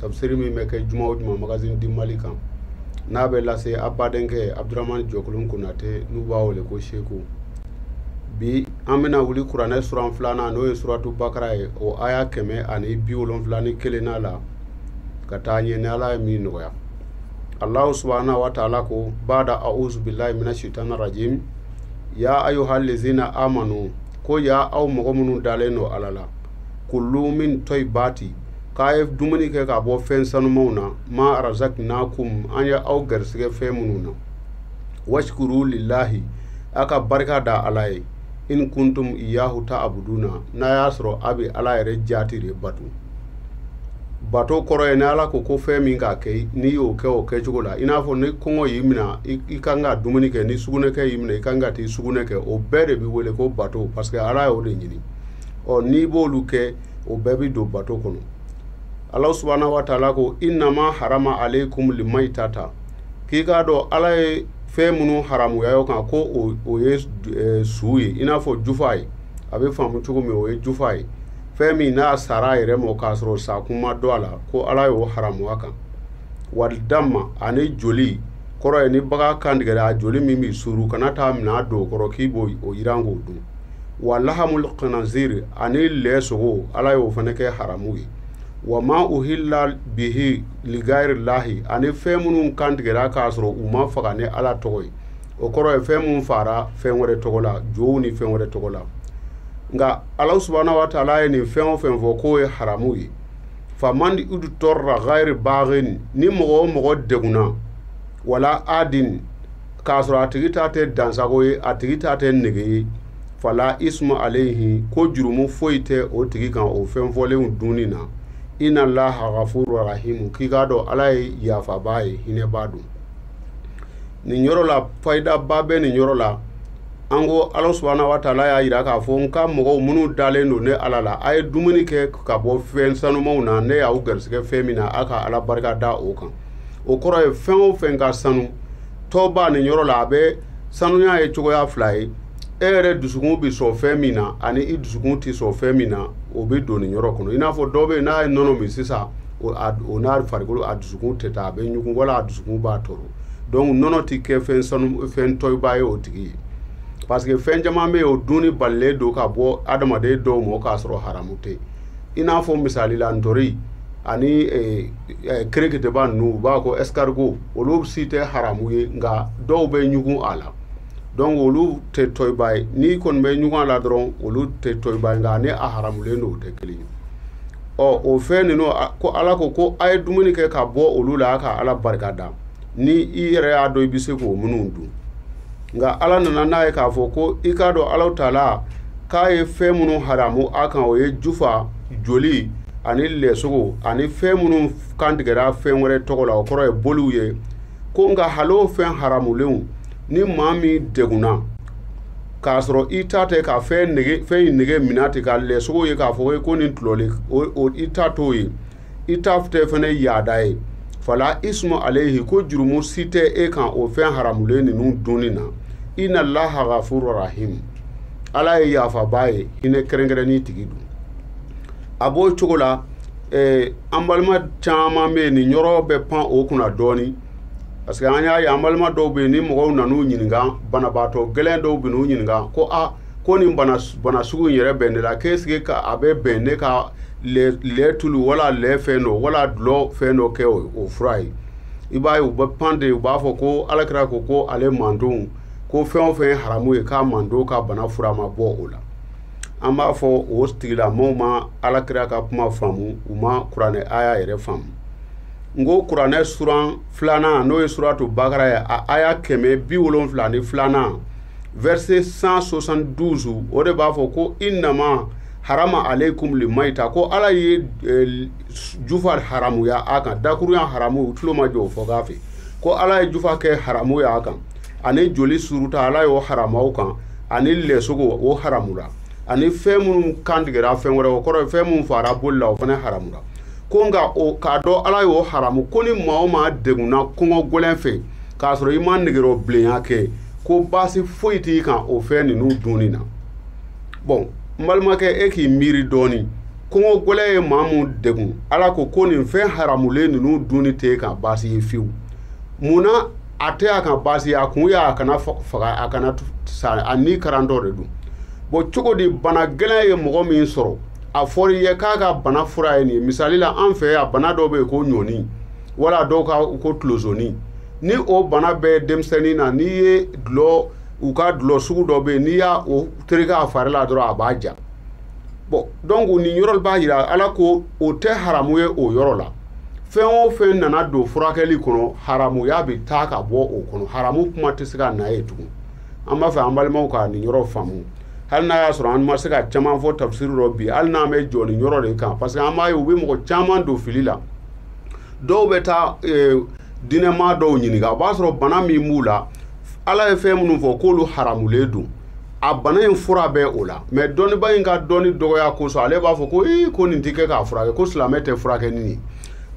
Tabisiri min bɛ kɛ juma o juma magazine du Mali kan, n'a bɛ lase a badenkɛ Abudramani Jɔkolon Konate n'u b'a wele ko Seku, bi an bɛna wuli kuranɛ suran filanan n'o ye suratu bakara ye o aya kɛmɛ ani bi wolonwula ni kelennan la ka taa ɲɛ ni Ala ye min nɔgɔya. Alahu subahana wataala ko bada auzu bilahi mina shetan rajim ya ayuhal lezina amanu ko ya aw mɔgɔ minnu dalen don Ala la kulu min tɔyibaati k'a ye dumuni kɛ k'a bɔ fɛn sanumanw na ma razakinakum an ye aw garisigɛ fɛn minnu na washkuru lillahi a ka barika da ala ye in kuntum iyahu taabuduna n'a y'a sɔrɔ a bɛ ala yɛrɛ jaati de bato bato kɔrɔ ye ni ala ko ko fɛn min k'a kɛ n'i y'o kɛ o kɛcogo la i n'a fɔ ni kɔngɔ y'i minɛ i ka kan ka dumuni kɛ ni sugunɛkɛ y'i minɛ i ka kan ka t'i sugunɛ kɛ o bɛɛ de bɛ wele ko bato parce que ala y'o de ɲini ɔ n'i b'olu kɛ o bɛɛ bɛ don bato kɔnɔ ala subahana wa taala ko inama harama alekum limayitata k'i k'a dɔn ala ye fɛn minnu haramuya aw kan ko o o ye eh, su ye i n'a fɔ jufa ye a bɛ faamu cogo min o ye jufa ye fɛn min n'a sara a yɛrɛ ma k'a sɔrɔ sakun ma dɔn a la ko ala y'o haramuya a kan walidama ani joli kɔrɔ ye ni bagan kan tigɛra a joli min bɛ suuru kana taa minɛn don o kɔrɔ k'i b'o yiran k'o dun wa lahamul khinazir ani lɛ sogo ala y'o fana kɛ haramu ye wa ma uhilla bihi ligayiri lahi ani fɛn minnu kantigɛra k'a sɔrɔ u ma faga ni ala tɔgɔ ye o kɔrɔ ye fɛn minnu faara fɛn wɛrɛ tɔgɔ la jow ni fɛn wɛrɛ tɔgɔ la nka ala subahana wa taala ye nin fɛn o fɛn fɔ k'o ye haramu ye faman udutɔrra gayiri bagin ni mɔgɔ o mɔgɔ degunna wala adin k'a sɔrɔ a tigi ta tɛ dansago ye a tigi ta tɛ nege ye fala ismu alayhi ko jurumu foyi tɛ o tigi kan o fɛn fɔlenw dunni na inna allaha ghafurur rahim k'i k'a dɔn ala ye yafabaa ye hinɛbaa don nin yɔrɔ la fayidaba bɛ nin yɔrɔ la an ko ala subahana wa taala y'a yira k'a fɔ n ka mɔgɔw minnu dalen don ne ala la a ye dumuni kɛ ka bɔ fɛn sanumanw na ne y'aw garisigɛ fɛn min na a ka ala barika da o kan o kɔrɔ ye fɛn o fɛn ka sanu tɔyiba nin yɔrɔ la a bɛ sanuya ye cogoya fila ye e yɛrɛ dusukun bɛ sɔn fɛn min na ani i dusukun tɛ sɔn fɛn min na o bɛ don nin yɔrɔ kɔnɔ i n'a fɔ dɔ bɛ yen n'a ye nɔnɔ min sisan o n'a farikolo a dusukun tɛ taa a bɛ ɲugun wala a dusukun b'a tɔɔrɔ donc nɔnɔ tɛ kɛ fɛn sanu fɛn tɔyiba ye o tigi ye parce que fɛn caman bɛ yen o dunni balilen don ka bɔ adamaden dɔw ma k'a sɔrɔ haramu tɛ yen i n'a fɔ misali la ntori ani eh, eh, kɛrɛkɛtɛba ninnu u b'a ko escargot olu si tɛ haramu ye nka dɔw bɛ ɲugun a la donc olu tɛ tɔyiba ye n'i kɔni bɛ ɲugun a la dɔrɔn olu tɛ tɔyiba ye nka ani a haramulen don o tɛ kelen ye ɔ o fɛn ninnu a- ko ala ko ko a ye dumuni kɛ ka bɔ olu la a ka ala barika da ni i yɛrɛ y'a dɔn i bɛ se k'o minnu dun nka ala nana n'a ye k'a fɔ ko i k'a dɔn ala taala k'a ye fɛn minnu haramu a kan o ye jufa joli ani lɛsogo ani fɛn minnu kantigɛra fɛn wɛrɛ tɔgɔ la o kɔrɔ ye boliw ye ko nka hali o fɛn haramulenw ni maa min degunna k'a sɔrɔ i ta tɛ ka fɛn nege fɛn in nege minɛ ten ka lɛsogo ye k'a fɔ ko nin tulɔlen o i ta t'o ye i ta tɛ fana yaada ye fala ismu aleyi ko jurumu si tɛ e kan o fɛn haramulen ninnu dunni na inalaha gafuru rahimu ala ye yafabaa ye hinɛ kɛrɛnkɛrɛnnen tigi don a b'o cogo la eh, an balima caman bɛ yen nin yɔrɔ bɛ pan u kunna dɔɔnin parce que an y'a ye an balima dɔw bɛ yen ni mɔgɔw nan'u ɲininka banabaatɔ gɛlɛn dɔw bɛ n'u ɲininka ko a ah, ko nin bana bana sugu in yɛrɛ bɛ ne la k'est-ce que a bɛ bɛn ne ka lɛ tulu wala lɛ fɛn dɔ wala dulɔ fɛn dɔ kɛ o fura ye i b'a ye u bɛ pan de u b'a fɔ ko ala kira ko ko ale mandenw ko fɛn o fɛn ye haramu ye k'a mandenw ka bana fura ma bɔ o la an b'a fɔ o tigilamɔgɔw ma ala kira ka kuma faamu u ma kuranɛ aya yɛrɛ faamu n ko kuranɛ suran filanan n'o ye suratu bakara ye a aya kɛmɛ bi wolonfila ni filanan verset cent soixante-douze o de b'a fɔ ko inama harama alekumu li mayita ko ala ye jufa haramuya a kan dakuruya haramu tulomajɔ o fɔ k'a fɛ ko ala ye jufa kɛ haramu y'a kan ani joli suuruta ala y'o haramu a kan ani lɛsogo o haramura ani fɛn minnu kantigɛra fɛn wɛrɛ o kɔrɔ fɛn minnu faara boli la o fana haramura ko nka o k'a dɔn ala y'o haramu ko ni maa min degunna kɔngɔ gɛlɛn fɛ k'a sɔrɔ i ma nege bilenya kɛ ko baasi foyi t'i kan o fɛn ninnu dunni na bon n balimakɛ e k'i miiri dɔɔnin kɔngɔ gɛlɛn ye maa min degun ala ko ko nin fɛn haramulen ninnu dunni tɛ e kan baasi ye fiyewu mun na a tɛ a kan baasi ye a kun y'a kana faga a kana sa a ni karantɔ de don bon cogo di bana gɛlɛn ye mɔgɔ min sɔrɔ a fɔra i ye k'a ka bana fura ye nin ye misali la an fɛ yan bana dɔ bɛ yen ko ɲɔni wala dɔw ka u ko tulozoni ni o bana bɛ denmisɛnnin na n'i ye dulɔ u ka dulɔ sugu dɔ bɛ yen n'i y'a o tereke a fari la dɔrɔn a b'a ja bon donc nin yɔrɔ b'a jira an na ko o tɛ haramu ye o yɔrɔ la fɛn o fɛn nana don furakɛli kɔnɔ haramuya bɛ taa ka bɔ o kɔnɔ haramu kuma tɛ se ka na yen tugun an b'a fɛ an balimaw ka nin yɔrɔ faamu hali n'a y'a sɔrɔ an ma se ka caman fɔ tafsiri rɔ bi hali n'an bɛ jɔ nin yɔrɔ de kan parce que an b'a ye u bɛ mɔgɔ caman don fili la dɔw bɛ taa eh, diinɛmaa dɔw ɲininka o b'a sɔrɔ bana min b'u la ala ye fɛn minnu fɔ k'olu haramulen don a bana in fura bɛ o la mais dɔnniba in ka dɔnni dɔgɔya kosɔn ale b'a fɔ ko ee ko nin tɛ kɛ k'a furakɛ ko silamɛ tɛ furakɛ ni nin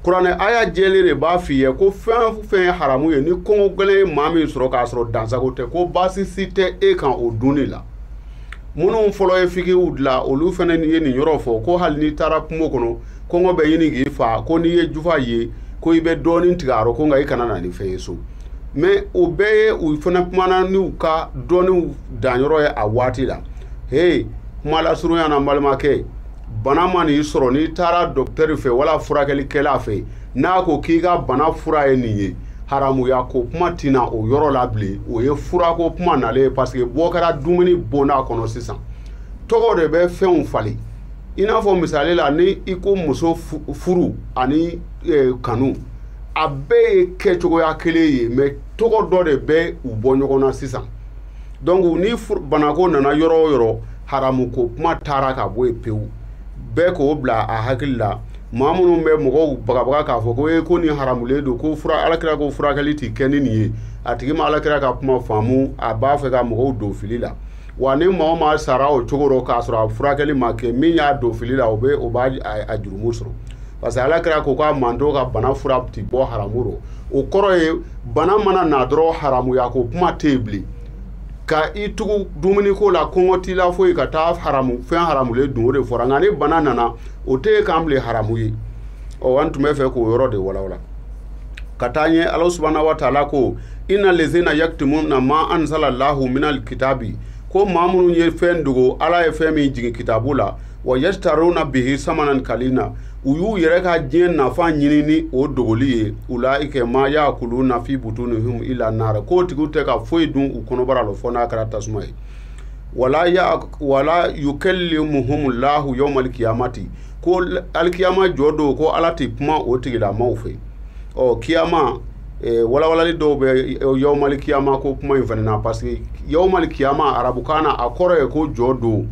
kuranɛ aya jɛlen de b'a f'i ye ko fɛn o fɛn ye haramu ye ni kɔngɔ gɛlɛn ye maa min sɔrɔ k'a sɔrɔ dansago tɛ ko baasi si tɛ e kan o dunni la minnu fɔlɔ ye fikiw dilan olu fana ye nin yɔrɔ fɔ ko hali n'i taara kungo kɔnɔ kɔngɔ bɛ ɲini k'i fa ko n'i ye jufa ye ko i bɛ dɔɔnin tigɛ a rɔ ko nka i kana na ni fɛn ye so mais o bɛɛ ye u fana kumana n'u ka dɔnniw danyɔrɔ ye a waati la he kuma lasurunya na n balimakɛ bana man'i sɔrɔ n'i taara dɔkitɛri fɛ wala furakɛlikɛla fɛ n'a ko k'i ka bana fura ye nin ye haramuya ko kuma tɛ na o yɔrɔ la bilen o ye furako kuma nalen ye parce que bɔ kɛra dumuni bonda kɔnɔ sisan tɔgɔ de bɛ fɛnw falen i n'a fɔ misali la ni i ko muso furu ani e, kanu a bɛɛ ye kɛcogoya kelen ye mais tɔgɔ dɔ de bɛ u bɔ ɲɔgɔn na sisan donc ni banako nana yɔrɔ o yɔrɔ haramu ko kuma taara ka bɔ yen pewu bɛɛ k'o bila a hakili la maa minnu bɛ mɔgɔw bagabaga k'a fɔ ko e ko nin haramulen don ko fura alakira ko furakɛli tɛ kɛ ni nin ye a tigi ma alakira ka kuma faamu a b'a fɛ ka mɔgɔw don fili la wa ni maa o maa sara o cogo rɔ k'a sɔrɔ a furakɛli ma kɛ min y'a don fili la o bɛ o b'a jurumu sɔrɔ parce que alakira ko a ka mantɔn ka bana fura ti bɔ haramu rɔ o kɔrɔ ye bana mana na dɔrɔn haramuya ko kuma tɛ yen bilen ka i tugu dumuni ko la kɔngɔ t'i la foyi ka taa haramu fɛn haramulen dun o de fɔra nka ni bana nana o tɛ ye k'an bilen haramu ye ɔ an tun bɛ fɛ k'o yɔrɔ de walawala ka taa ɲɛ ala subhana wa taala ko inna lazina yaktumuna ma anzala lahu minal kitabi ko maa minnu ye fɛn dogo ala ye fɛn min jigin kitabu la wa yastaruna bihi samanan kalila u y'u yɛrɛ ka diɲɛ nafa ɲini ni o dogoli ye ulaika ma yakuluna fi butunihim ila nara k'o tigiw tɛ ka foyi dun u kɔnɔbara la fo n'a kɛra tasuma ye wala wala yukalimuhumu lahu yawmal kiyamati ko alikiyama jɔ don ko ala tɛ kuma o tigilamaw fɛ ɔ kiyama eh, walawalali dɔw bɛ eh, yawmali kiyama ko kuma in fana na parce que yawmali kiyama arabukan na a kɔrɔ ye ko jɔ don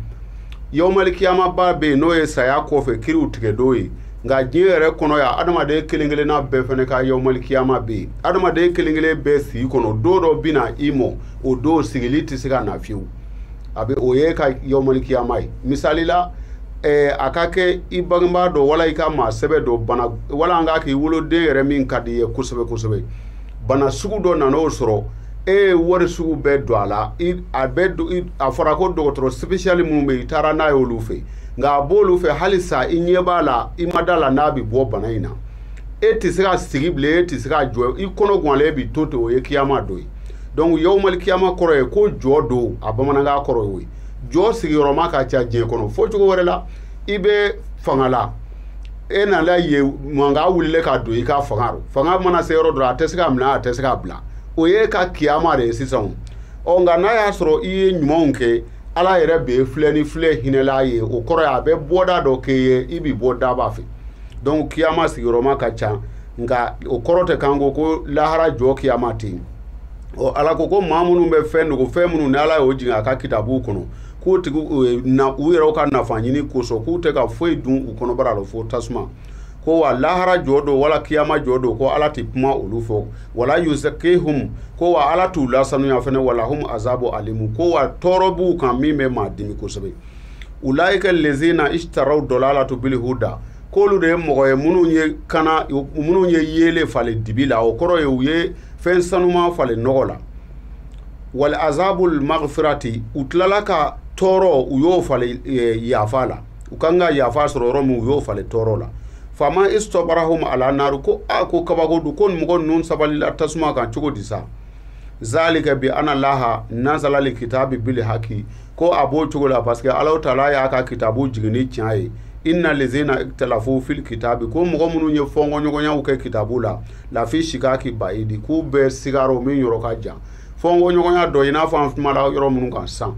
yawmali kiyama ba bɛ yen n'o ye saya kɔfɛ kiriw tigɛ don ye nka diɲɛ yɛrɛ kɔnɔ yan adamaden kelen kelenna bɛɛ fana ka yawmali kiyama bɛ yen adamaden kelen kelen bɛɛ sigi kɔnɔ don dɔ bɛ na i ma o don sigili tɛ se ka na fiyewu a bɛ o y'i ka yawmali kiyama ye misalila a ka kɛ i bangebaa dɔ wala i ka maa sɛbɛ dɔ bana wala an k'a k'i woloden yɛrɛ min ka di i ye kosɛbɛ kosɛbɛ bana sugu dɔ nana o sɔrɔ e ye wari sugu bɛɛ don a la a bɛ a fɔra ko dɔgɔtɔrɔ spécial minnu bɛ i taara n'a ye olu fɛ nka a b'olu fɛ halisa i ɲɛ b'a la i ma da a la n'a bɛ bɔ bana in na e tɛ se ka sigi bilen e tɛ se ka jɔ i kɔnɔ ganlen bɛ to ten o ye kiyama don ye donc yawmali kiyama kɔrɔ ye ko jɔ don a bamanankan kɔrɔ ye jɔ sigiyɔrɔma ka ca diɲɛ kɔnɔ fɔ cogo wɛrɛ la i bɛ fanga la e nana ye mankan wulila ka don i ka fanga fanga mana se yɔrɔ dɔrɔn a tɛ se ka minɛ a tɛ se ka bila o y'i ka kiyama de ye sisan ɔ nka n'a y'a sɔrɔ i ye ɲumanw kɛ ala yɛrɛ b'i filɛ ni filɛ hinɛla ye o kɔrɔ ye a bɛ bɔda dɔ k'e ye i bɛ bɔ daba fɛ donc kiyama sigiyɔrɔma ka ca nka o kɔrɔ tɛ k'an ko ko lahara jɔ kiyama tɛ yen ɔ ala ko ko maa minnu bɛ fɛn dogo fɛn minnu ni ala y'o jigin a ka kitabuw kɔnɔ k'o tigi e, na u yɛrɛw ka nafa ɲini kosɔn k'u tɛ ka foyi dun u kɔnɔbara la fo tasuma ko wa lahara jɔ don wala kiyama jɔ don ko ala tɛ kuma olu fɛ wala yuzakihum ko wa ala t'u lasanuya fana walahum azabu alimu ko wa tɔɔrɔ b'u kan min bɛ maa dimi kosɛbɛ ulaika lezina ishtaraw dɔlalatu bilhuda k'olu de ye mɔgɔ ye minnu ye kana minnu ye yeele falen dibi la o kɔrɔ ye u ye fɛn sanuma falen nɔgɔ la wali azabul magfirati u tilala ka tɔɔrɔ u y'o falen e, yafa la u kan ka yafa sɔrɔ yɔrɔ min u y'o falen tɔɔrɔ la fama istɔbarahum ala naaru ko a ko kabako don ko nin mɔgɔ ninnu sabalila tasuma kan cogo di sa zalika biana laha nazalali kitabi bili haki ko a b'o cogo la parce que ala taala y'a ka kitabu jigin ni tiɲɛ ye inna lezina talafu fil kitabi ko mɔgɔ minnu ye fɔnkɔɲɔgɔnyaw kɛ kitabu la lafi shikaki bayidi k'u bɛ siga rɔ min yɔrɔ ka jan fɔnkɔɲɔgɔnya dɔ i n'a fɔ an kumara yɔrɔ minnu kan san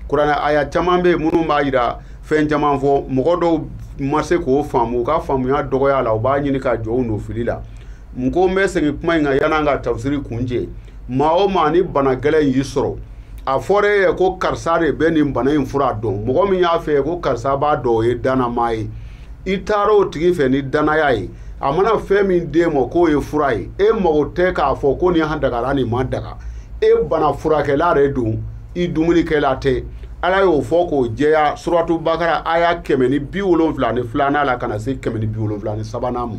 kuranɛ aya caman bɛ yen minnu b'a yira fɛn caman fɔ mɔgɔ dɔw ma se k'o faamu u ka faamuya dɔgɔya la u b'a ɲini ka jɔ u nɔfili la n ko n bɛ segin kuma in kan yan'an ka tafsiri kuncɛ maa o maa ni bana gɛlɛn y'i sɔrɔ a fɔra e ye ko karisa de bɛ nin bana in fura dɔn mɔgɔ min y'a fɔ e ye ko karisa b'a dɔn o ye dannamaa ye i taara o tigi fɛ ni dannaya ye a mana fɛn min d'e ma k'o ye fura ye e mago tɛ k'a fɔ ko nin dagara nin ma daga e bana furakɛla de don i dumunikɛla tɛ ala y'o fɔ k'o jɛya suratu bakara aya kɛmɛ ni bi wolonfila ni filanan la ka na se kɛmɛ ni bi wolonfila ni sabanan ma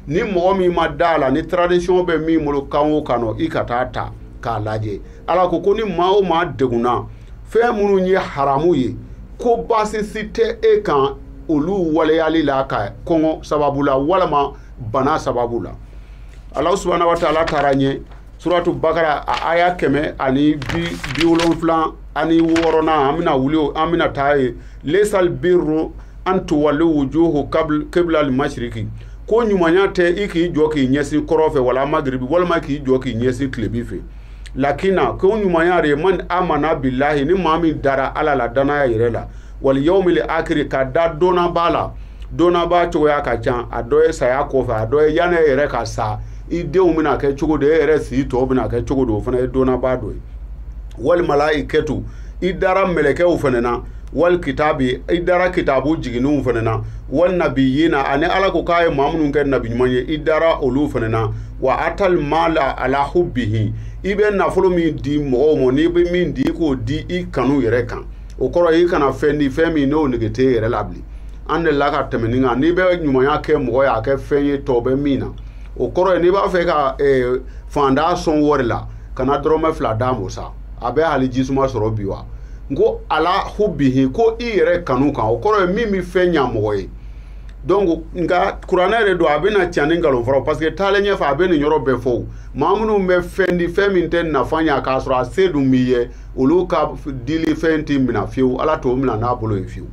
ni mɔgɔ min ma da a la ni traduction bɛ min bolo kan o kan i ka taa ta k'a lajɛ ala ko ko ni maa o maa degunna fɛn minnu ye haramu ye ko baasisi tɛ e kan olu waleyali la ka kɔngɔ sababu la walima bana sababu la ala subahana wa taala taara ɲɛ suratu bakara a aya kɛmɛ ani bi bi wolonfila ani wɔɔrɔnan an bɛna wuli an bɛna taa ye lesal birru an tuwalu wujuhu kibla al-mashriqi ko ɲumanya tɛ i k'i jɔ k'i ɲɛsin kɔrɔn fɛ wali magiribi walima k'i jɔ k'i ɲɛsin tilebin fɛ lakina ko ɲumanya de man amana bilahi ni maa min dara ala la dannaya yɛrɛ la wali yawmil akiri ka da don laban la don laban cogoya ka ca a dɔ ye saya kɔfɛ a dɔ ye yanni e yɛrɛ ka sa i denw bɛna kɛ cogo di e yɛrɛ si tɔw bɛna kɛ cogo di o fana ye don laban dɔ ye wali malayikɛtu i dara mɛlɛkɛw fana na wali kitabi i dara kitabu jigininw fana na wali nabiyina ani ala ko k'a ye maa minnu kɛ nabi ɲuman ye i dara olu fana na wa atali mala ala hubihi i bɛ nafolo min di mɔgɔw ma n'i bɛ min di i k'o di i kanu yɛrɛ kan o kɔrɔ i kana fɛn di fɛn min n'o nege t'e yɛrɛ la bilen an dela ka tɛmɛ nin kan n'i bɛ ɲumanya kɛ mɔgɔ ye a kɛ fɛn ye tɔ bɛ min na o kɔrɔ ye n'i b'a fɛ ka eh, faantan sɔn wari la kana dɔrɔmɛ fila d'a ma sa a bɛ hali jisuma sɔrɔ bi wa n ko ala hubihi ko i yɛrɛ kanu kan o kɔrɔ ye min bɛ fɛn ɲa mɔgɔ ye donc nka kuranɛ de don a bɛna tiɲɛ ni nkalon fara parce que taalen ɲɛfɛ a bɛ nin yɔrɔ bɛɛ fɔ maa minnu bɛ fɛn di fɛn min tɛ nafa ɲa k'a sɔrɔ a se dun b'i ye olu ka dilifɛn tɛ minɛ fiyewu ala t'o minɛ n'a bolo ye fiyewu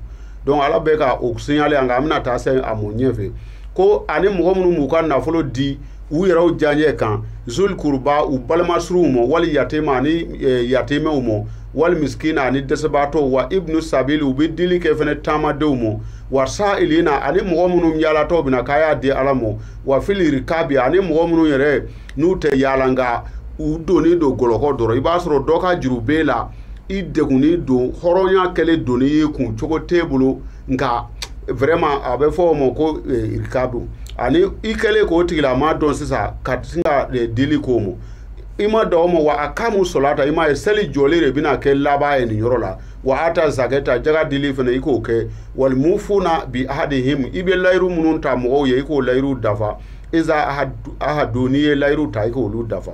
donc ala bɛ ka o signale yan nka an bɛna taa se a mɔ ɲɛfɛ ko ani mɔgɔ minnu b'u ka nafolo di u yɛrɛw diyaɲɛ kan zul kuruba u balimasuruw mɔ wali yatema ani e, yatimɛw mɔ wali misikina ani dɛsɛbaatɔw wa ibnu sabili u bɛ dili kɛ fɛnɛ taamadenw mɔ wa sa'ilina ani mɔgɔ minnu yaalatɔ bɛ na k'a y'a di ala mɔ wa fili rikabi ani mɔgɔ minnu yɛrɛ n'u tɛ yaala nka u donnen don jɔlɔkɔ dɔ rɔ i b'a sɔrɔ dɔ ka juru b'e la i degunnen don hɔrɔnya kɛlen doni ye kun cogo t'e bolo nka vraiment a bɛ fɔ o ma ko eh, ka don ani i kɛlen k'o tigilama dɔn sisan ka sin ka eh, dili k'o ma i ma da o ma wa akama sɔlata i m'a ye seli jɔli de bɛna kɛ laban ye nin yɔrɔ la wa ata zakata jaga dili fana i k'o kɛ walimufuna bi ahadihim i bɛ layiru minnu ta mɔgɔw ye i k'o layiru dafa iza ahadu- ahadu n'i ye layiru ta i k'olu dafa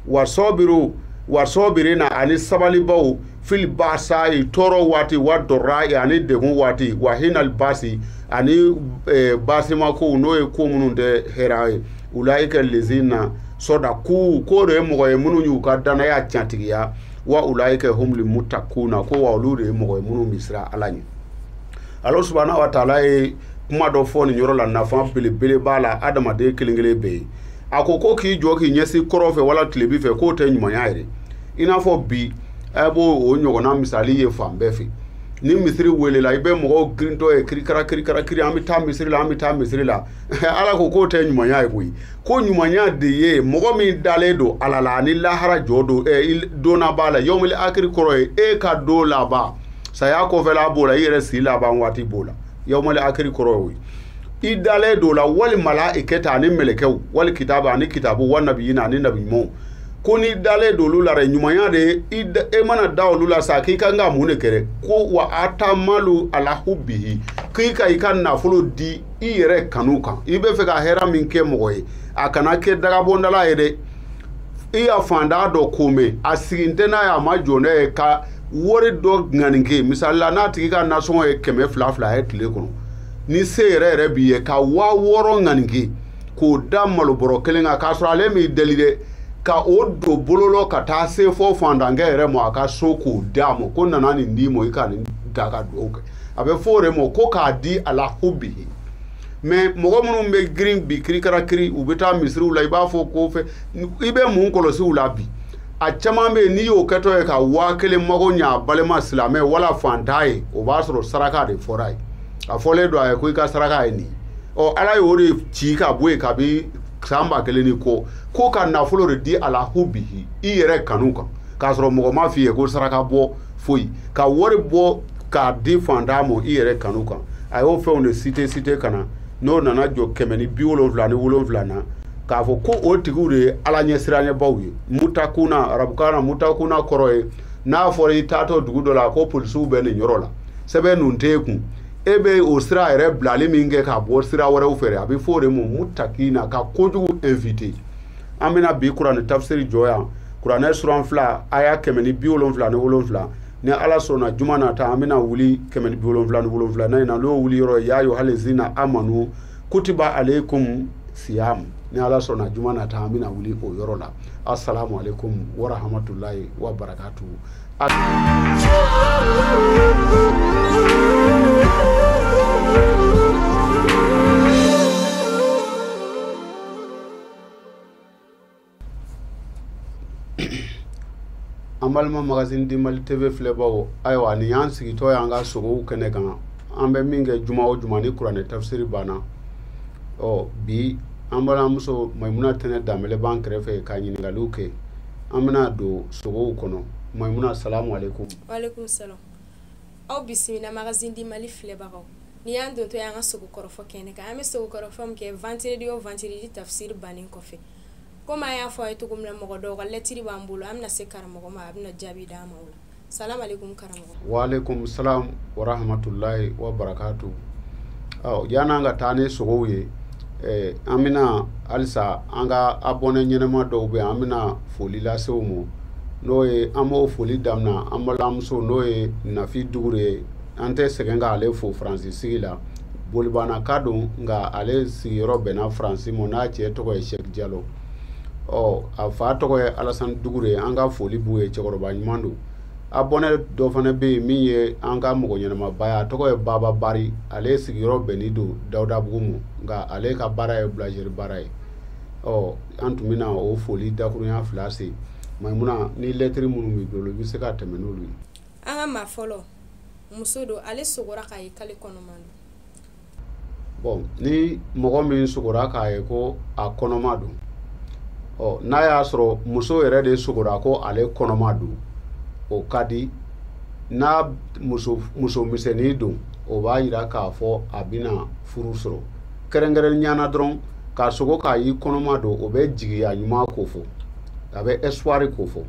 wa sɔbiru wa sɔbirina ani sabalibaw fili baasayi tɔɔrɔ waati wa dɔrɔrayi ani degun waati wa hinali baasi ani eh, baasimakow n'o ye ko minnu tɛ hɛrɛ ye ulaika lezina sɔdaku k'o de ye mɔgɔ ye minnu y'u ka danaya cantigiya wa ulaika humuli mutakuna ko wa olu de ye mɔgɔ ye minnu bɛ siran ala ɲɛ ala subahana wa taala ye kuma dɔ fɔ nin yɔrɔ la nafa belebele b'a la adamaden kelen kelen bɛɛ ye a ko ko k'i jɔ k'i ɲɛsin kɔrɔn fɛ wala tilebin fɛ k'o tɛ ɲumanya yɛrɛ i n'a fɔ bi a b'o ɲɔgɔnna misali ye fan bɛɛ fɛ ni misiri welela i bɛ mɔgɔw girintɔ ye kirikara kirikara kiri an bɛ taa misiri la an bɛ taa misiri la ala ko k'o tɛ ɲumanya ye koyi ko ɲumanya de ye mɔgɔ min dalen don ala la ani lahara jɔ don ɛ eh, don laban la yɔmili akiri kɔrɔ ye e ka don laban saya kɔfɛla b'o la i yɛrɛ si laban waati b'o la yawmali akiri kɔrɔ y'o ye i dalen don o la wali malayikati ani mɛlɛkɛw wali kitabu ani kitabu wa nabiyina ani nabi ɲumanw ko n'i dalen don olu la dɛ ɲumanya de ye i mana da olu la sa k'i ka kan ka mun de kɛ ko wa ata mala ala hubihi k'i ka i ka nafolo di i yɛrɛ kanu kan i bɛ fɛ ka hɛrɛ min kɛ mɔgɔ ye a kana kɛ dagabɔndala ye dɛ i ye fandan dɔ ko mɛn a sigin tɛ n'a ye a ma jɔ n'a ye ka wari dɔ ŋaninke misali la n'a tigi ka nasɔngɔ ye kɛmɛ fila fila ye tile kɔnɔ ni se yɛrɛ yɛrɛ b'i ye ka waa wɔɔrɔ ŋaninke k'o da malobɔrɔ kelen kan k'a sɔrɔ ale m'i deli dɛ ka o don bololɔ ka taa se fɔ fandankɛ yɛrɛ ma a ka so k'o d'a ma ko n nana nin d'i ma i ka nin ta ka dugawu kɛ a bɛ fɔ o de ma ko k'a di ala hubihi mais mɔgɔ minnu bɛ girin bi kirikara kiri u bɛ taa misiriw la i b'a fɔ ko fɛ i bɛ mun kɔlɔsi u la bi a caman bɛ yen n'i y'o kɛtɔ ye ka waa kelen mago ɲɛ a balima silamɛ wala fantan ye o b'a sɔrɔ saraka de fɔra ye a fɔlen don a ye ko i ka saraka ye nin o ala y'o de ci ka bɔ yen kabi san ba kelen ni kɔ ko ka nafolo de di ala hubihi i yɛrɛ kanu kan k'a sɔrɔ mɔgɔ ma f'i ye ko saraka bɔ foyi ka wari bɔ k'a di fantan mɔ i yɛrɛ kanu kan a y'o fɛnw de citer citer ka na n'o nana jɔ kɛmɛ ni bi wolonfila ni wolonfila na k'a fɔ ko o tigiw de ye ala ɲɛsiranɲɛbaw ye mutakuna arabukan na mutakuna kɔrɔ ye n'a fɔra i taatɔ dugu dɔ la ko polisiw bɛ nin yɔrɔ la sɛbɛn nun t'e kun e bɛ o sira yɛrɛ bilali min kɛ ka bɔ sira wɛrɛw fɛ a bɛ fɔ o de ma mutakina ka kojugu éviter an bɛna bi kuranɛ tafsiri jɔ yan kuranɛ suran fila aya kɛmɛ ni bi wolonwula ni wolonwula ni ala sɔnna juma nata an bɛna wuli kɛmɛ ni bi wolonwula ni wolonwula na in na n'o wuli yɔrɔ ya ayuha lizina amanu kutiba aleikum siyam ni ala sɔnna juma nata an bɛna wuli o yɔrɔ la assalamu alaikum warahamatulahi wa barakatu an balima magazine du mali tv filɛbaaw ayiwa nin y'an sigitɔ y'an ka sogow kɛnɛ kan an bɛ min kɛ juma o juma ni kuranɛ tafsiri banna ɔ bi an balimamuso mayimuna tɛnɛ danbele b'an kɛrɛfɛ ka ɲininkaliw kɛ an bɛna don sogow kɔnɔ mayimuna salamu aleykum aw bisimila magazine du mali filɛbagaw Nin y'an dontɔ y'an ka sogo kɔrɔfɔ kɛnɛ kan an bɛ sogo kɔrɔfɔ min kɛ vendredi o vendredi tafsiri bannen kɔfɛ komi an y'a fɔ aw ye cogo min na mɔgɔ dɔw ka lɛtiri b'an bolo an bɛna se karamɔgɔ ma a bɛna jaabi d'an ma o la salamu aleykum karamɔgɔ wa aleykum salam wa rahmatulahi wa barakatu ɔ yanni an ka taa ni sogow ye eh, an bɛna halisa an ka abɔne ɲɛnama dɔw bɛ an bɛna foli lase u ma n'o ye an b'o foli daminɛ an balimamuso n'o ye nafi dugure ye an tɛ sɛgɛn ka ale fo faransi sigi la bolibanaka don nka ale sigiyɔrɔ bɛnna faransi ma n'a cɛ tɔgɔ ye sɛki jalo ɔ a fa tɔgɔ ye alasani dugure ye an ka foli b'u ye cɛkɔrɔba ɲuman don abɔne dɔ fana bɛ yen min ye an ka mɔgɔ ɲɛnamaba ye a tɔgɔ ye baba bari ale sigiyɔrɔ bɛnnen don dawudabugu ma nka ale ka baara ye bulanzeri baara ye ɔ an tun bɛna o foli dakurunya fila se maimuna ni lɛtiri minnu b'i bolo i bɛ se ka tɛmɛ n'olu ye an ka maa fɔlɔ muso don ale sogora k'a ye k'ale kɔnɔman don bon ni mɔgɔ min sogora k'a ye ko a kɔnɔma don ɔ n'a y'a sɔrɔ muso yɛrɛ de sogora ko ale kɔnɔma don o ka di n'a muso misɛnnin don o b'a jira k'a fɔ a bɛna furu sɔrɔ kɛrɛnkɛrɛnya na dɔrɔn ka sogo k'a y'i kɔnɔma don o bɛ jigiya ɲuman ko fɔ a bɛ espoir ko fɔ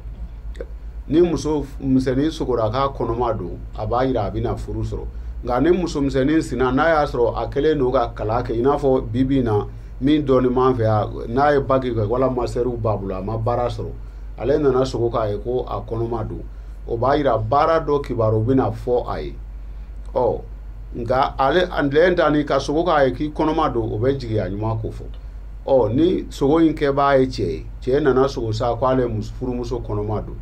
ni muso misɛnnin sogora k'a kɔnɔma don a b'a jira a bɛna furu sɔrɔ nka ni muso misɛnnin sinna n'a y'a sɔrɔ a kɛlen don ka kalan kɛ i n'a fɔ bi bi in na min dɔnnen b'an fɛ yan n'a ye baki kɛ wala mastɛriw b'a bolo a ma baara sɔrɔ ale nana sogo k'a ye ko a kɔnɔma don o b'a jira baara dɔ kibaru bɛna fɔ a ye ɔ nka ale lɛn ta ni ka sogo k'a ye k'i kɔnɔma don o bɛ jigiya ɲuman kofɔ ɔ ni sogo in kɛbaa ye cɛ ye cɛ nana sogo sa ko ale furumuso kɔnɔma don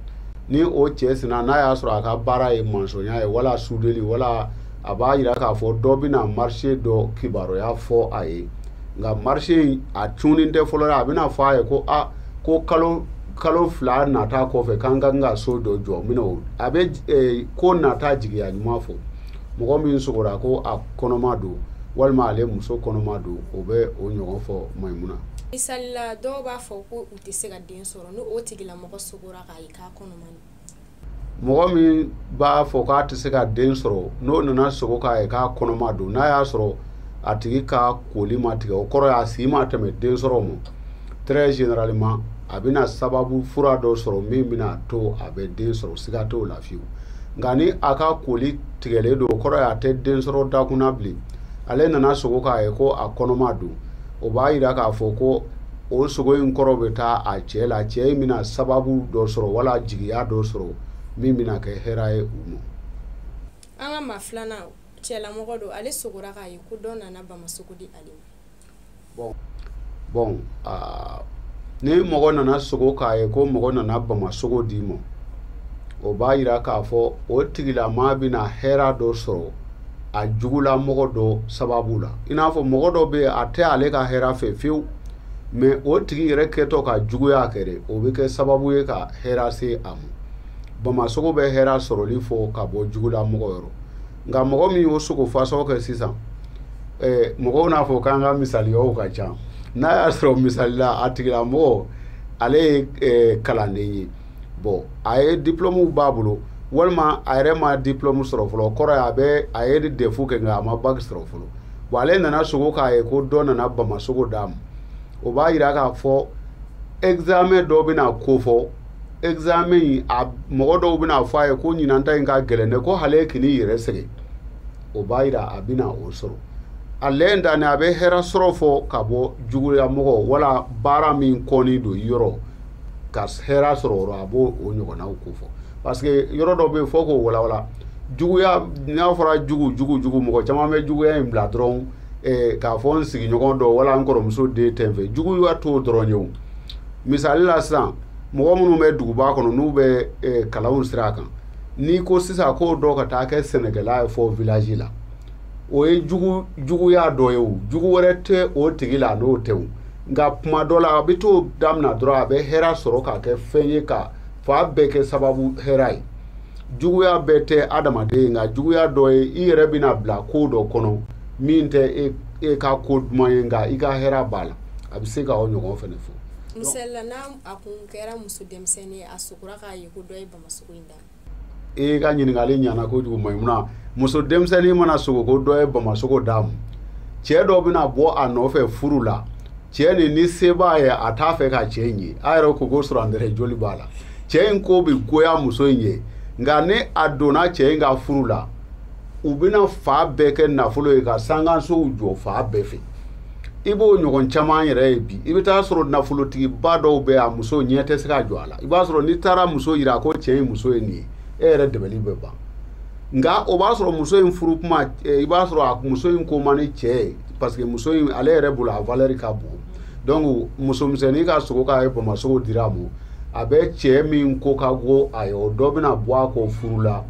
ni o cɛ sina n'a y'a sɔrɔ a ka baara ye masɔnya ye wala sudeli wala a b'a yira k'a fɔ dɔ bɛna marché dɔ kibaruya fɔ a ye nka marché in a cunnen tɛ fɔlɔ a bɛna fɔ a ye ko a ko kalo kalo fila nata kɔfɛ k'an ka kan ka so dɔ jɔ minɛ a bɛ ko nata jigiya ɲuman fɔ mɔgɔ min sogora ko a kɔnɔma don walima ale muso kɔnɔma don o bɛ o ɲɔgɔn fɔ maɲimuna misali la dɔw b'a fɔ ko u tɛ se ka den sɔrɔ ni o tigilamɔgɔ sogora k'a ye k'a kɔnɔma don mɔgɔ min b'a fɔ k'a tɛ se ka den sɔrɔ n'o nana sogo k'a ye k'a kɔnɔma don n'a y'a sɔrɔ a tigi ka koli ma tigɛ o kɔrɔ y'a si ma tɛmɛ den sɔrɔ ma très généralement a bɛna sababu fura dɔ sɔrɔ min bɛna to a bɛ den sɔrɔ siga t'o la fiyewu nka ni a ka koli tigɛlen don o kɔrɔ ye a tɛ den sɔrɔ dakun na bilen ale nana sogo k'a ye ko a kɔnɔma don o b'a yira k'a fɔ ko o sogo in kɔrɔ bɛ taa a cɛ la cɛ in bɛna sababu dɔ sɔrɔ wala jigiya dɔ sɔrɔ min bɛna kɛ hɛrɛ ye u ma. an ka maa filanan cɛlamɔgɔ don ale sogora k'a ye ko dɔ nana bama sogo di ale ma. bɔn ni mɔgɔ nana sogo k'a ye ko mɔgɔ nana bama sogo d'i ma o b'a yira k'a fɔ o tigilamaa bɛna hɛrɛ dɔ sɔrɔ a jugulamɔgɔ dɔ sababu la i n'a fɔ mɔgɔ dɔ bɛ a tɛ ale ka hɛrɛ fɛ fiyewu mɛ o tigi yɛrɛ kɛtɔ ka juguya kɛ o bɛ kɛ sababu ye ka hɛrɛ se a ma bama sogo bɛ hɛrɛ sɔrɔli fɔ ka bɔ jugulamɔgɔ yɔrɔ nka mɔgɔ min y'o sogo fasɔn kɛ sisan eh, mɔgɔw n'a fɔ k'an ka misaliyaw ka ca n'a y'a sɔrɔ misali la a tigilamɔgɔ ale ye eh, kalanden ye bɔn a ye diplɔmuw b'a bolo walima a yɛrɛ ma diplɔmu sɔrɔ fɔlɔ kɔrɔ ye a bɛ a ye defu kɛ nka a ma baki sɔrɔ fɔlɔ bɔn ale nana sogo k'a ye ko dɔ nana bama sogo d'a ma o b'a yira k'a fɔ examen dɔ bɛna kofɔ examen in a mɔgɔ dɔw bɛna fɔ a ye ko ɲinan ta in ka gɛlɛn dɛ ko hali kan'i yɛrɛ sɛgɛn o b'a yira a bɛna o sɔrɔ a lɛn danni a bɛ hɛrɛ sɔrɔ fɔ ka bɔ juguya mɔgɔ wala baara min kɔni don yɔrɔ ka hɛrɛ sɔrɔ yɔrɔ a b'o o ɲɔgɔnnaw kofɔ parce que yɔrɔ dɔ bɛ yen fo k'o walawala juguya n'a fɔra jugu jugu jugu mɔgɔ caman bɛ juguya in bila dɔrɔn eh, k'a fɔ n sigiɲɔgɔn dɔ wala n kɔrɔmuso den tɛ n fɛ juguya t'o dɔrɔn ye o misali la sisan mɔgɔ minnu bɛ duguba kɔnɔ n'u bɛ eh, kalanw sira kan n'i ko sisan ko dɔ ka taa kɛ sɛnɛkɛla ye fɔ village la o ye jugu juguya dɔ ye o jugu wɛrɛ tɛ o tigi la n'o tɛ o nka kuma dɔ la a bɛ t'o damina dɔrɔn a bɛ hɛrɛ sɔrɔ k'a kɛ fɛn ye ka fan bɛɛ kɛ sababu hɛrɛ ye juguya bɛɛ tɛ adamaden ye nka juguya dɔ ye i yɛrɛ bɛna bila ko dɔ kɔnɔ min tɛ e e ka ko duman ye nka i ka hɛrɛ b'a la a bɛ se k'o ɲɔgɔn fana fɔ misali la n'a kun kɛra muso denmisɛnnin a k'a ye ko dɔ ye bama in da e ka ɲininkali ɲɛna kojugu maimuna muso denmisɛnnin mana sogo ko dɔ ye bamasogo d'a ma cɛ dɔ bɛna bɔ a nɔfɛ furu la cɛ nin ni se b'a ye a t'a fɛ ka cɛ in ye a yɛrɛ ko ko surantɛrɛ joli b'a la cɛ in ko bɛ goya muso in ye nka ni a donna cɛ in ka furu la u bɛna fan bɛɛ kɛ nafolo ye ka sankansow jɔ fan bɛɛ fɛ i b'o ɲɔgɔn caman yɛrɛ ye bi i bɛ t'a sɔrɔ nafolotigiba dɔw bɛ a muso ɲɛ tɛ se ka jɔ a la i b'a sɔrɔ n'i taara muso jira ko cɛ in muso ye nin ye e yɛrɛ dabali bɛ ban nka o b'a sɔrɔ muso in furu kuma eh, i b'a sɔrɔ a muso in ko man di cɛ ye parce que muso in ale yɛrɛ bolo a valeur ka bon donc muso misɛnnin ka sogo k'a ye bamasogo dira a ma a bɛ cɛ min ko ka go a ye o dɔ bɛna bɔ a kɔ furu la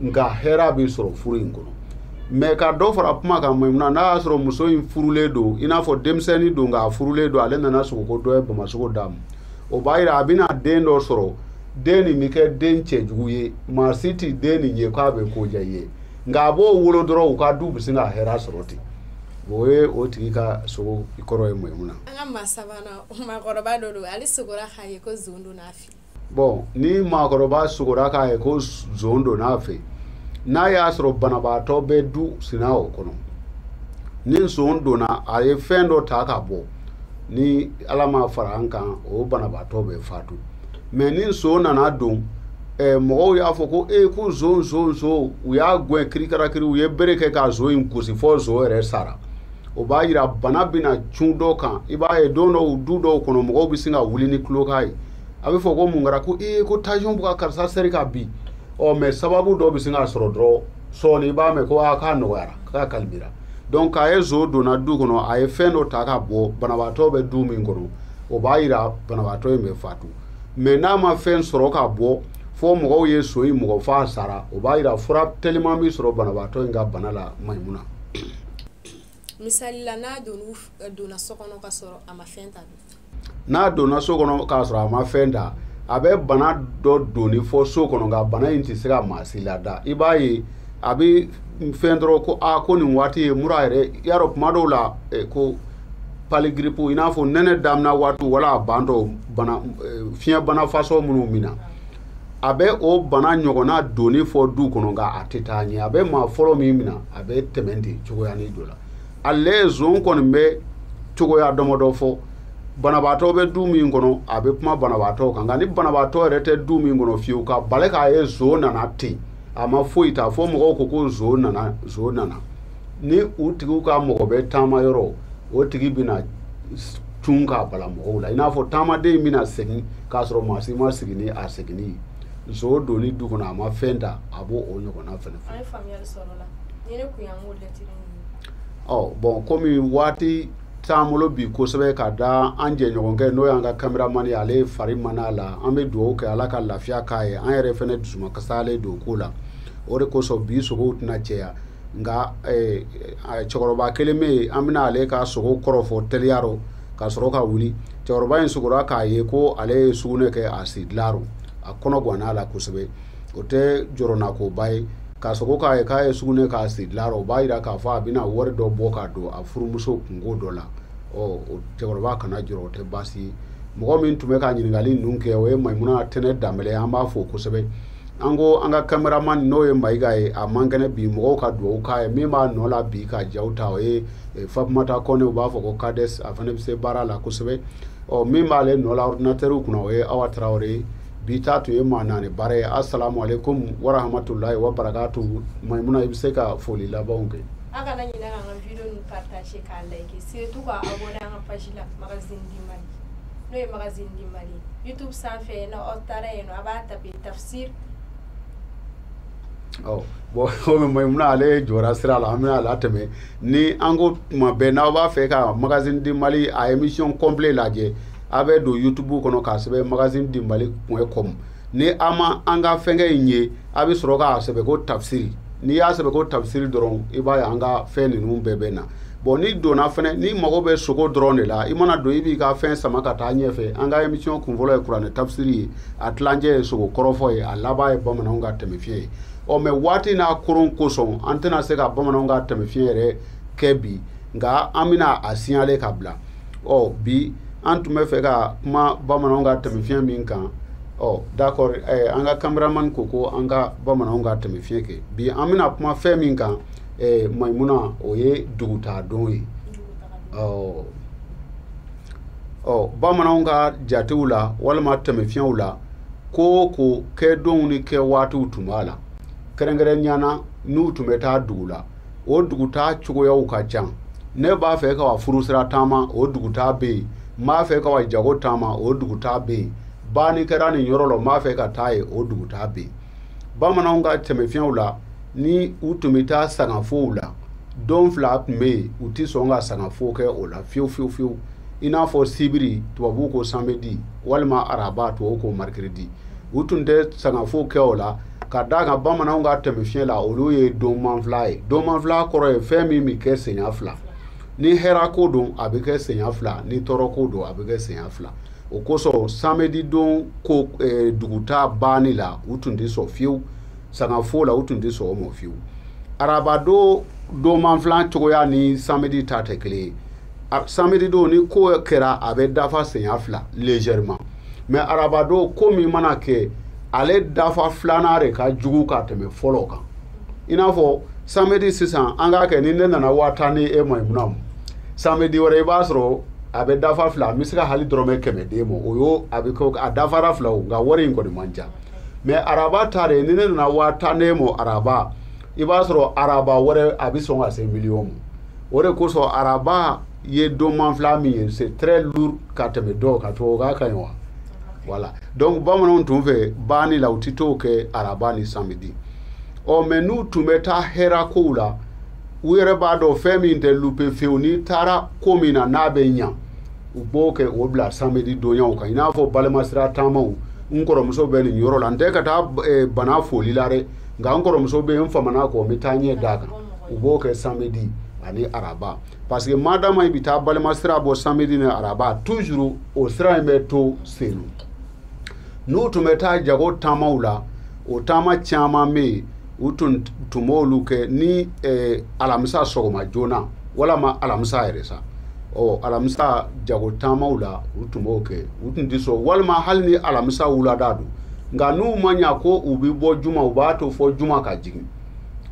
nka hɛrɛ bɛ sɔrɔ furu in kɔnɔ mɛ ka dɔ fara kuma kan maimuna n'a y'a sɔrɔ muso in furulen don i n'a fɔ denmisɛnnin don k'a furulen don ale nana sogo ko dɔ ye bamasogo d'a ma o b'a yira a bɛna den dɔ sɔrɔ den nin bɛ kɛ den cɛjugu ye maa si tɛ den nin ye k'a bɛ ko diya i ye nka a b'o wolo dɔrɔn u ka du bɛ sin ka hɛrɛ sɔrɔ ten o ye o tigi ka sogo kɔrɔ ye maimuna an ka maa sabanan maakɔrɔba dɔ don ale sogora k'a ye ko zon donna a fɛ yen bɔn ni maakɔrɔba sogora k'a ye ko zon donna a fɛ n'a y'a sɔrɔ banabaatɔ bɛ du sina o kɔnɔ ni zon donna a ye fɛn dɔ ta ka bɔ ni ala ma fara an kan o banabaatɔ bɛ faatu mɛ ni zon nana don eh, mɔgɔw y'a fɔ ko e ko zon zon zon u y'a gɛn kirikarakiri u ye bere kɛ ka zon in gosi fɔ zon yɛrɛ sara o b'a jira bana bɛna cun dɔ kan i b'a ye don dɔw du dɔw kɔnɔ mɔgɔw bɛ sin ka wuli ni kulokan ye a bɛ fɔ ko mun kɛra ko ee ko tansiyɔn bɛ ka karisa seri ka bin ɔ mɛ sababu dɔ bɛ sin ka sɔrɔ dɔrɔn sɔɔni i b'a mɛn ko aa k'a nɔgɔyara k'a kalibira donc k'a ye zon donna du kɔnɔ a ye fɛn dɔ ta ka bɔ banabaatɔ bɛ du min kɔnɔ o b'a jira banabaatɔ in bɛ fatu mɛ n'a ma fɛn sɔrɔ ka bɔ fo mɔgɔw ye zon in bugɔ f'a sara o b'a jira fura teliman bɛ sɔrɔ banabaatɔ in ka bana la mayimuna misali la n'a don eh, donna so kɔnɔ ka sɔrɔ a ma fɛn ta n'a donna so kɔnɔ k'a sɔrɔ a ma fɛn ta a bɛ bana dɔ donni fɔ so kɔnɔ nka bana in tɛ se ka maa si lada i b'a ye a bɛ fɛn dɔrɔn ko a ko nin waati ye mura yɛrɛ y'a rɔ kuma dɔw la eh, ko pali giripu i n'a fɔ nɛnɛ damina waati wala a ban dɔw bana eh, fiɲɛ bana fasɔn minnu min na a bɛ o bana ɲɔgɔnna donni fɔ du kɔnɔ nka a tɛ taa ɲɛ a bɛ maa fɔlɔ min mina a bɛ tɛmɛ ten cogoya nin don la nson kɔni bɛ cogoya damadɔ fɔ banabaatɔ bɛ du min kɔnɔ a bɛ kuma banabaatɔ kan nka ni banabaatɔ yɛrɛ tɛ du min kɔnɔ fiyewu ka bala k'a ye nson nana ten a ma foyi ta fɔ mɔgɔw ko ko nson nana ni u tigiw ka mɔgɔ bɛ taama yɔrɔ o tigi bɛna cun k'a bala mɔgɔw la i n'a fɔ taamaden in bɛna segin k'a sɔrɔ maa si ma sigi ni a seginni ye nson donni du kɔnɔ a ma fɛn ta a b'o o ɲɔgɔnna fɛnɛ fɔ. an ye faamuyali sɔrɔ o la ni ne kun y'an k'o lɛtiri ninnu. ɔ bɔn komi waati t'an bolo bi kosɛbɛ ka da an jɛɲɔgɔnkɛ n'o y'an ka kameraman ye ale fari man d'a la an bɛ dugawu kɛ ala ka lafiya k'a ye an yɛrɛ fɛnɛ dusumakasilen don o ko la o de kosɔn bi sogow tɛna caya. nka cɛkɔrɔba kelen bɛ yen an bɛna ale ka sogo kɔrɔ fɔ teliya rɔ ka sɔrɔ ka wuli cɛkɔrɔba in sogora k'a ye ko ale ye sugunɛ kɛ a si dilan rɔ a kɔnɔ ganna a la kosɛbɛ o tɛ jɔrɔnakoba ye ka sogo k'a ye k'a ye sugunɛ k'a si dilan rɔ o b'a jira k'a fɔ a bɛna wari dɔ bɔ k'a don a furumuso kunko dɔ la ɔ cɛkɔrɔba kana jɔrɔ o tɛ baasi ye mɔgɔ min tun bɛ ka ɲininkali ninnu kɛ o ye mayimuna tɛnɛ danbele an b'a fo kosɛbɛ an ko an ka kameraman n'o ye mayiga ye a man kɛnɛ bi mɔgɔw ka dugawu k'a ye min b'a nɔ la bi ka jaw ta o ye eh, fatumata kɔnɛ u b'a fɔ ko kades a fana bɛ se baara la kosɛbɛ ɔ min b'ale nɔ la ɔridinatɛriw kunna o ye awa tarawele ye bi ta tun ye maa naani baara ye asalamu aleykum warahmatulahi wabarakatu mayimuna i bɛ se ka foli labanw kɛ tafsir ɔ bɔn komi mayimuna ale jɔra sira la an bɛn'a latɛmɛ ni an ko tuma bɛɛ n'aw b'a fɛ ka magazine du mali a émission complet lajɛ a bɛ don youtube kɔnɔ k'a sɛbɛn magazine du mali point com ni a ma an ka fɛnkɛ in ye a bɛ sɔrɔ k'a sɛbɛn ko tafsiri n'i y'a sɛbɛn ko tafsiri dɔrɔn i b'a ye an ka fɛn ninnu bɛɛ bɛ na bɔn n'i donna fɛnɛ n'i mago bɛ sogo dɔrɔn de la i mana don i b'i ka fɛn sama ka taa ɲɛfɛ an ka émission kunfɔlɔ ye kuranɛ tafsiri ye a tilancɛ ye sogo kɔrɔfɔ ye a laban ye bamananw ka tɛmɛ fiɲɛ ye ɔ mais waati n'a koron kosɔn an tɛna se ka bamananw ka tɛmɛ fiɲɛ yɛrɛ kɛ bi nka an bɛna a signaler ka bila ɔ bi an tun bɛ fɛ ka kuma bamananw ka tɛmɛ fiɲɛ min kan ɔ d'accord eh, an ka cameraman ko ko an ka bamananw ka tɛmɛ fiɲɛ kɛ bi an bɛna kuma fɛn min kan eh, maimuna o ye dugutaadon ye ɔ ɔ bamananw ka jatew la walima tɛmɛ fiɲɛw la ko o ko kɛ donw ni kɛ waatiw tun b'a la kɛrɛnkɛrɛnya na n'u tun bɛ taa dugu la o dugu taa cogoyaw ka ca ne b'a fɛ ka wa furusira taama o dugu taa bɛ yen n b'a fɛ ka wa jago taama o dugu taa bɛ yen banni kɛra nin yɔrɔ la n b'a fɛ ka taa yen o dugu taa bɛ yen bamananw ka tɛmɛ fiɲɛw la ni u tun bɛ taa sangafow la don fila tun bɛ yen u tɛ sɔn ka sangafo kɛ o la fiyewu fiyewu fiyewu i n'a fɔ sibiri tubabu ko samedi walima araba tubabu ko mercredi u tun tɛ sangafo kɛ o la ka d'a kan bamananw ka tɛmɛ fiɲɛ la olu ye donmanfila ye donmanfila kɔrɔ ye fɛn min bɛ kɛ senya fila ni hɛrɛ ko don a bɛ kɛ senya fila ni tɔɔrɔ ko don a bɛ kɛ senya fila o kosɔn samedi don ko eh, dugutaa banni la u tun tɛ sɔn fiyewu sangafo la u tun tɛ sɔn o ma fiyewu araba don donmanfilan cogoya ni samedi ta tɛ kelen ye samedi don ni ko kɛra a bɛ dafa senya fila légèrement mais araba don ko min mana kɛ ale dafa filanan de ka jugu ka tɛmɛ fɔlɔ kan i n'a fɔ samedi sisan an k'a kɛ ni ne nana waa tan ni e maimuna ma samedi wɛrɛ i b'a sɔrɔ a bɛ dafa fila n bɛ se ka hali dɔrɔmɛ kɛmɛ d'e ma o y'o a bɛ kɛ a dafara fila o nka wari in kɔni man ca mais araba ta de ni ne nana waa tan n'e ma araba i b'a sɔrɔ araba wɛrɛ a bɛ sɔn ka se miliyɔn ma o de kosɔn araba ye donmanfila min ye c'est très lourd ka tɛmɛ dɔw kan tubabu k'a ka ɲi wa voilà donc bamananw tun fɛ banni la u tɛ t'o kɛ araba ni samedi ɔ mais n'u tun bɛ taa hɛra kow la u yɛrɛ b'a dɔn fɛn min tɛ louper fewu n'i taara ko min na n'a bɛ ɲa u b'o kɛ o bila samedi donyaw kan i n'a fɔ balimasira taamaw n kɔrɔmuso bɛ nin yɔrɔ la n tɛ ka taa eh, bana foli la dɛ nka n kɔrɔmuso bɛ yen n famana kɔ n bɛ taa ɲɛ d'a kan u b'o kɛ samedi ani araba parce que madama i bɛ taa balimasira bɔ samedi ni araba toujours o sira in bɛ to senu n'u tun bɛ taa jago taamaw la o taama caman bɛ yen u tun tun b'olu kɛ ni eh, alamisa sɔgɔma joona walama alamisa yɛrɛ sa ɔ alamisa jago taamaw la u tun b'o kɛ u tun tɛ sɔn walima hali ni alamisa wulada don nka n'u ma ɲa ko u bɛ bɔ juma u b'a to fo juma ka jigin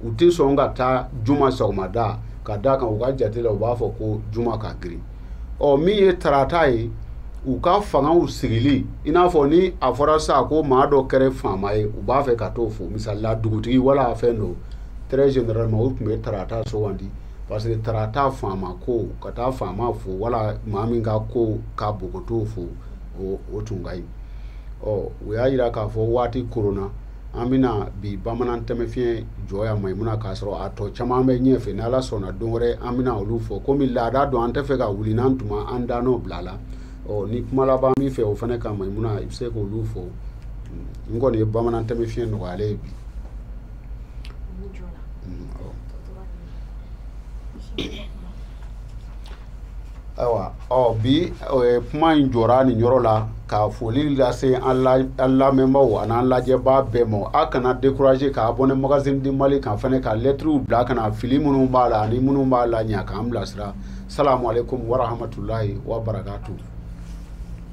u tɛ sɔn ka taa juma sɔgɔmada ka d'a kan u ka jate la u b'a fɔ ko juma ka girin ɔ min ye tarata ye u ka fangaw sigili i n'a fɔ ni a fɔra sa ko maa dɔ kɛra faama ye u b'a fɛ ka t'o fo misali la dugutigi wala fɛn don très généralement u tun bɛ tarata sugandi parce que tarata faama ko ka taa faama fo wala maa min ka ko ka bon ka t'o fo o tun ka ɲi ɔ u y'a jira k'a fɔ waati kɔrɔ la an bɛna bi bamanan tɛmɛfiɲɛ jɔ yan mayimuna k'a sɔrɔ a tɔ caman bɛ ɲɛ fɛ ni ala sɔnna don wɛrɛ an bɛna olu fɔ komi laada don an t'a fɛ ka wuli n'an tuma an dan n'o bila la ɔ ni kuma laban min fɛ o fana kan mayimuna i bɛ se k'olu fɔ n kɔni ye bamanan tɛmɛfiɲɛ nɔgɔyalen ye bi mm, ayiwa ɔ bi kuma in jɔra nin yɔrɔ la ka foli lase an lamɛnbaaw an'an lajɛbaa bɛɛ ma a kana dekuraze k'abɔne magazine du mali kan fana ka lɛtiriw bila kana fili minnu b'a la ani minnu b'a lajɛ k'an bilasira salamu alekum warahamatulayi wa barakatu